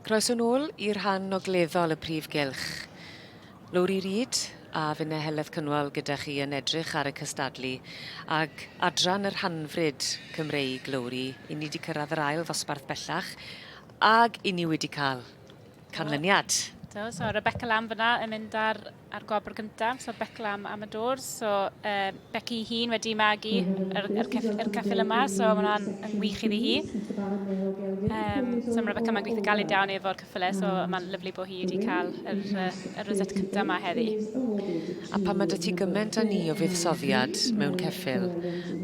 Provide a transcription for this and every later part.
Croeso nôl i rhan ogleddol y Prif Gylch. Lowri Reid a finne Heledd Cynwal gyda chi yn edrych ar y cystadlu ag adran yr hanfryd Cymreig, Lowri. I ni wedi cyrraedd yr ail ddosbarth bellach ag i ni wedi cael canlyniad. Do, so Rebecca Lamb yna yn mynd ar a'r gwobr gyntaf, so Bec Lam am y Doors, so uh, Becky i hun wedi magu yr, yr, cef, yr ceffil yma, so mae hwnna'n yn wych iddi hi. Um, so mae Rebecca mae'n gweithio galed iawn efo'r cyffile, so mae'n lyflu bod hi wedi cael yr, yr roset cyntaf yma heddi. A pan mae dy ti gymaint â ni o fuddsoddiad mewn ceffil,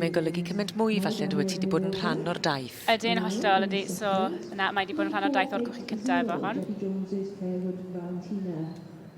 mae'n golygu cymaint mwy falle dwi ti wedi bod yn rhan o'r daith. Ydyn, hollol ydy, so na, mae wedi bod yn rhan o'r daith o'r cwchyn cyntaf efo hon.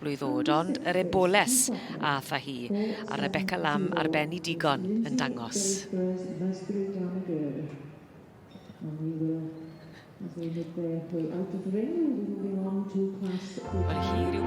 blwydd oed ond yr eboles a ath a hi a Rebecca Lamb ar ben i digon yn dangos. Wel hi rhyw...